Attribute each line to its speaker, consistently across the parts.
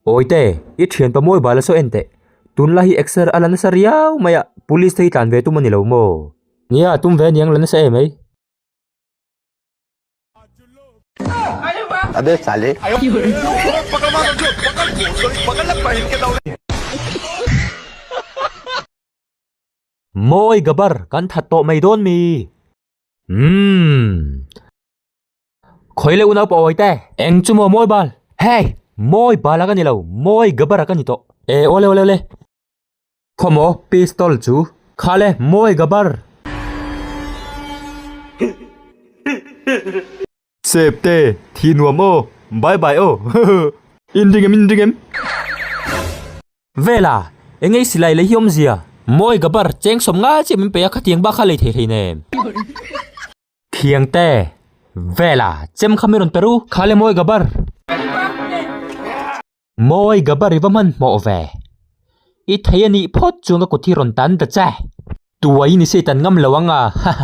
Speaker 1: Awite, i thian paw mawi bal a saw enteh. Tun la hi exer a la nasa riau mai a, police te hi tlan ve tum a ni lo maw? Nia, a tum ve a niang la nasa em ei? Mawi Gabar kan that tawh mai dawn mi. Umm. Khawi leh unau pawh a awite. Eng chu maw Mawi Bal. Hey! Mawi Bal a ka ni lo, Mawi Gabar a ka ni tawh. E awle awle awle. Khaw maw pistol chu. Kha le Mawi Gabar. Sep te, thi nuam aw, bye bye aw hahh. In ring em in ring em. Vela, eng nge silai lei hi awm zia. Mawi gabar, cheng sawm ngai chiah min pe a, khatiang bak kha lei thei thei nen. Thiang te, Vela, chem kha min rawn per u. Khale mawi gabar. Mawi gabar i va hman hmawh ve. I thei a nih phawt chuan ka kut hi rawn tan ta che. Tuai ni se i tan ngam lo ang a hahh.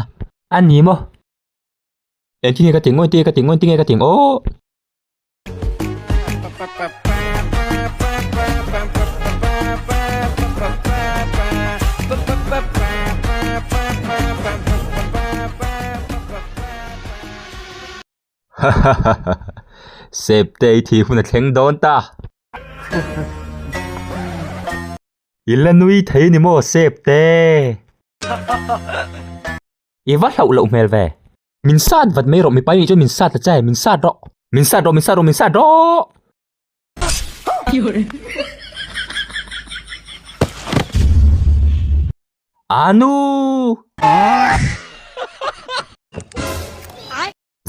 Speaker 1: A ni maw. Eng tinge ka ti ngawi tinge ka ti ngawi tinge ka ti ngaw. Sep te i thi huna thleng dawn ta. I la nui thei ni maw Sep te. I va hlauh loh hmel ve. Min sat vat mai rawh, mipa nih chuan min sat ta che, min sat rawh. Min sat rawh, min sat rawh, min sat rawh! Aa nu!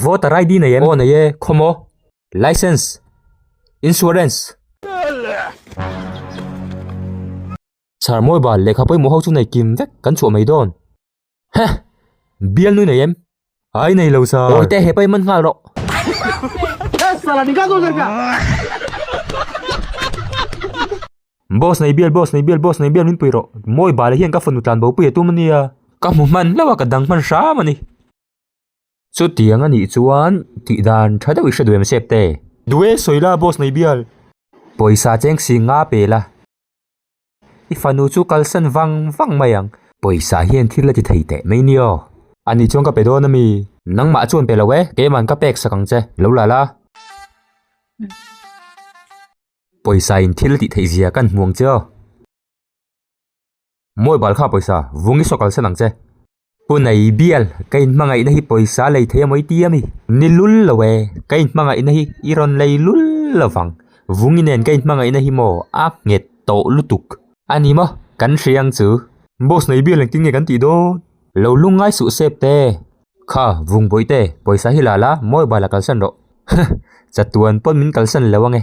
Speaker 1: Voter ID nei em? Aw nei e, khaw maw? Licence? Insurance? Chharmawi bal, lehkha pawimawh ho chu nei kim vek, kan chhuah mai dawn. Huh! Bial nui nei em? Ai nei lo sir. Awi te he pai man nghal rawh. Boss nei bial boss nei bial boss nei bial min pui rawh. Mawi bale hian ka fanu tlan bo pui a tum ania. Ka hmu hman hlauh a ka dang hman hram ani. Chutiang a nih chuan tih dan tha deuh i hre duai em sep te. Duai sawi la boss nei bial. Pawisa cheng si nga pela. I fanu chu kalsan vang vang mai ang. Pawisa hian thil a ti thei teh mai ni aw. A nih chuan ka pe dawn a mi. Nangmah chuan pe lo e, kei man ka pek sak ang che, lo la la. Pawisa in thil a tih theih zia kan hmuang che aw. Mawih bal kha pawisa, vung i saw kalsan ang che. Punai bial, ka in hmangaihna hi pawisa lei theih a mawiti a mi? Ni lul lo e, ka in hmangaihna hi i rawn lei lul lo vang. Vungi nen ka in hmangaihna hi maw a nghet tawh lutuk. A ni maw? Kan hria ang chu. Boss nei bial ang tin nge kan tih dawn? Lo lung ngai suh sep te. Kha, vung bawih te, pawisa hi la la, mobile a kalsan rawh. Huh! Chatuan pawn min kalsan lo ang e.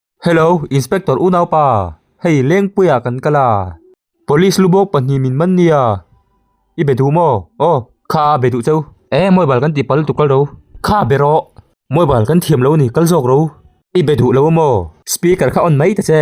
Speaker 1: Hello, Inspector U Naupa, hei Lengpuia kan kal a, Police lu bawk pahnih min man nia, i be duh maw? Aw, kha a be duh chau. Ee, Mawibal kan tih pal lutuk kal ro. Kha be rawh. Mawibal kan thiam lo a ni, kal zawk ro. I be duh lo maw? Speaker kha on mai ta che.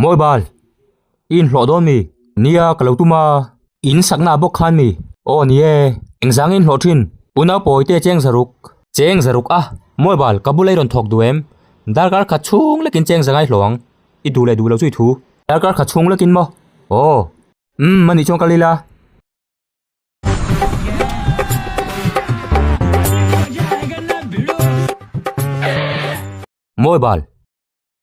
Speaker 1: Mawi bal, i inhlawh dawn mi? Nia ka lo tum a. In sakna a bawk khan mi? Aw ni e, eng zang i inhlawh thin? Unaupawite a cheng zaruk. Cheng zaruk a, Mawi bal, ka bu lei rawn thawk duh em? Darkar khat chhung lekin cheng zanga i hlawh ang. I duh leh duh lo chu i thu. Darkar khat chhung lekin maw? Aw. Umm, mahni chuan ka lil a. Mawi bal.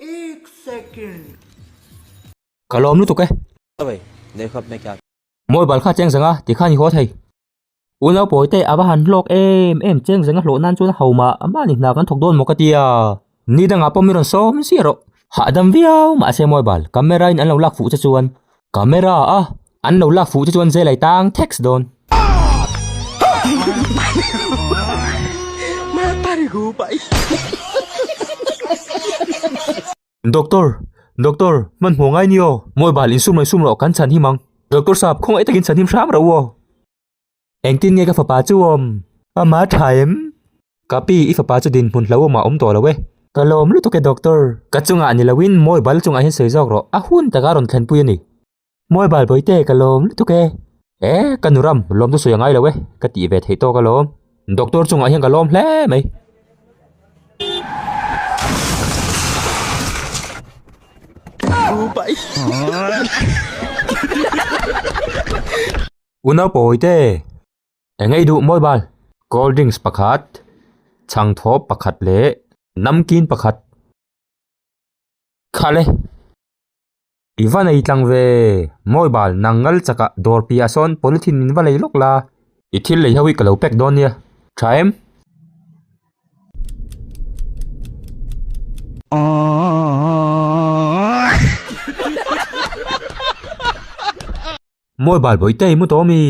Speaker 1: एक second ka lawm lutuk e ave nei khap mai kya moi bal kha cheng zanga ti kha ni haw thei u nau pawi te ava han hlawk em em cheng zanga hlawh nan chuan ho mah mahni hna kan thawk dawn maw ka tia ni dangah pawh mi rawn sawm zia rawh hahdam viau mahse mobile camera in an lo lak fuh che chuan Camera a an lo lak fuh te chuan zêl a itâng theks dawn. Doctor, Doctor, hmanhmawh ngai ni aw. Mobile insum raih sum rawh kan chhan him ang. Doctor sahab khawngaih takin chhan him hram ro aw. Engtin nge ka fapa chu awm? Ama tha em? Ka pi, i fapa chu dinhmun hlauhawm ah awm tawh lo e. Ka lawm lutuk e doctor. Ka chungah ni loin mawibal chungah hian sawi zawk rawh, a hun taka rawn thlenpui a ni. Mawibal bawihte, ka lawm lutuk e. E, ka nu ram, lawm chu sawi a ngai lo e, ka tih ve theih tawk a lawm. Doctor chungah hian ka lawm hle mai. Upa i. U Naupawi te, eng nge i duh mawi bal? Cold drinks pakhat, chhang thawp pakhat leh namkin pakhat. Khale! I va nei tlang ve mawi bal, nang ngal chaka dawr piahah sawn polythene min va lei lawk la. I thil lei ho hi ka lo pack dawn nia, tha em? Aww. Mawi bal bawi te imu tawh mi.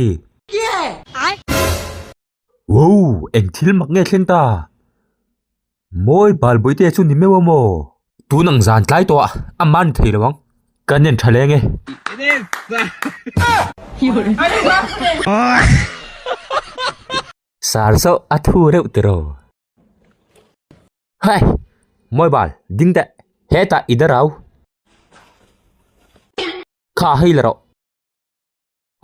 Speaker 1: Wow, eng thil mak nge thleng ta. Mawi bal bawi te chu ni meuh a maw. Tun ang zan tlai tawh a, a man thei lo ang. Ka nen tha leng e. Sar zawh a thu reuh tiraw. Hey! Mobile, ding deh. Heta i da rau. Kha hei la rawh.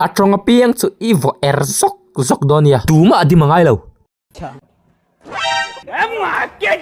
Speaker 1: A tawng apiang chu i vawh er zawk zawk dawn nia. Tumah a dim a ngai lo. Eng a ken.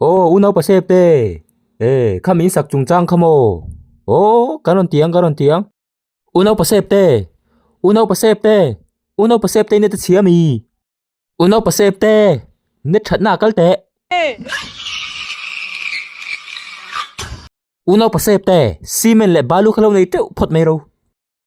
Speaker 1: Aw, u naupa sep te, ee, kha min sak chungchang kha maw? Aw, kan rawn ti ang, kan rawn ti ang. U naupa sep te, u naupa sep te, u naupa sep te i net a chhia mi? U naupa sep te, net thatna a kal teh. U naupa sep te, cement leh balu kha lo nei teuh phawt mai ro.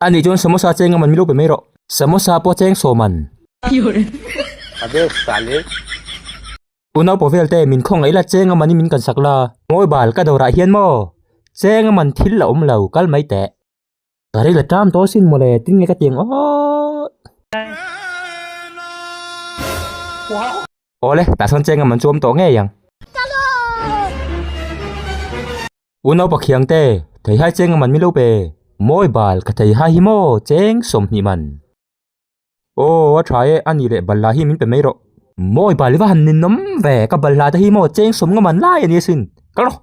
Speaker 1: Ani chuan samosa cheng aman milupe mai rawh. Samosa pawh cheng sawm an. A bek sa le. U Naupaw vel te min khaw ngaih la cheng amani min kan sak la. Mawi bal ka dawrah hian maw. Cheng aman thil la awm lo kal mai teh. Ka ri la tlam taw sin maw le tin nge ka tiang aww. Awle tah sawn cheng aman chu awm tawh ngei ang. U Naupa Khiang te, thei hai cheng a man milo pe? Mawi bal, ka thei hai hi maw cheng sawm hnih man. Aw a tha e, anih leh balhla hi min pe mai rawh. Mawi bal i va han ninawm ve, ka balhla te hi maw cheng sawm nga man lai ani asin, ka rawh.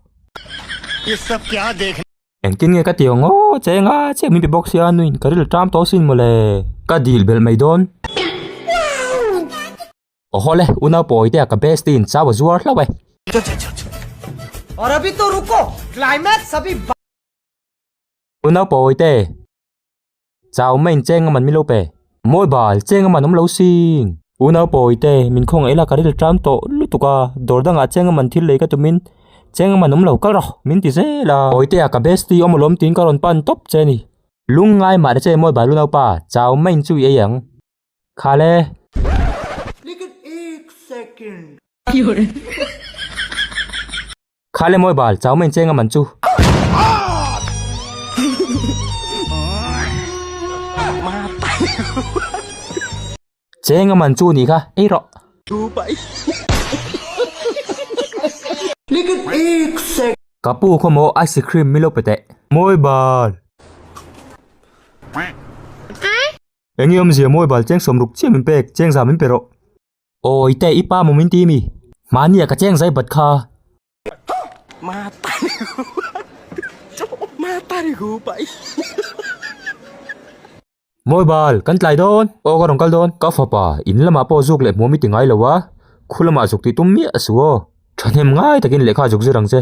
Speaker 1: Engtin nge ka ti ang aw cheng a, chiah min pe bawk sia, nuin ka ril ṭam tawh asin mawle. Ka dil belh mai dawn. Oho le, u naupawi te a ka best in chau a zuar hlauh e. Chho chho chho chho. Aur abhi to ruko, climax abhi ba. U naupawi te. Chau main cheng aman milo pe. Mawi bal, cheng aman awm lo sing. U naupawi te, min khaw ngaih la ka ril ṭam tawh lutuk a, dawr dangah cheng aman thil lei ka tumin cheng aman awm lo kal rawh min ti zel a. Pawi te a ka bestie awm alawm tiin ka rawn pan tawp che a ni. Lungngai mahde che mawi bal u naupa, chau main chu i ei ang. Khale. Khale mawi bal, chau main cheng a man chu. Cheng a man chu nih kha, ei rawh. Ka pu khaw maw ice cream mi lo pe teh. Mawi bal. Eng i awmzia mawi bal cheng sawm ruk chiah min pek, cheng zah min pe rawh. Aw i teh i pa maw min ti mi? Mahnia ka cheng zai bat kha. Mawi bal, kan tlai dawn. Aw ka rawn kal dawn. Ka fapa, in lamah pawh zuk leh hmuh mi ti ngai lo a, khulamah zuk tih tum miah a si aw. Thahnem ngai takin lehkha zuk zir ang che.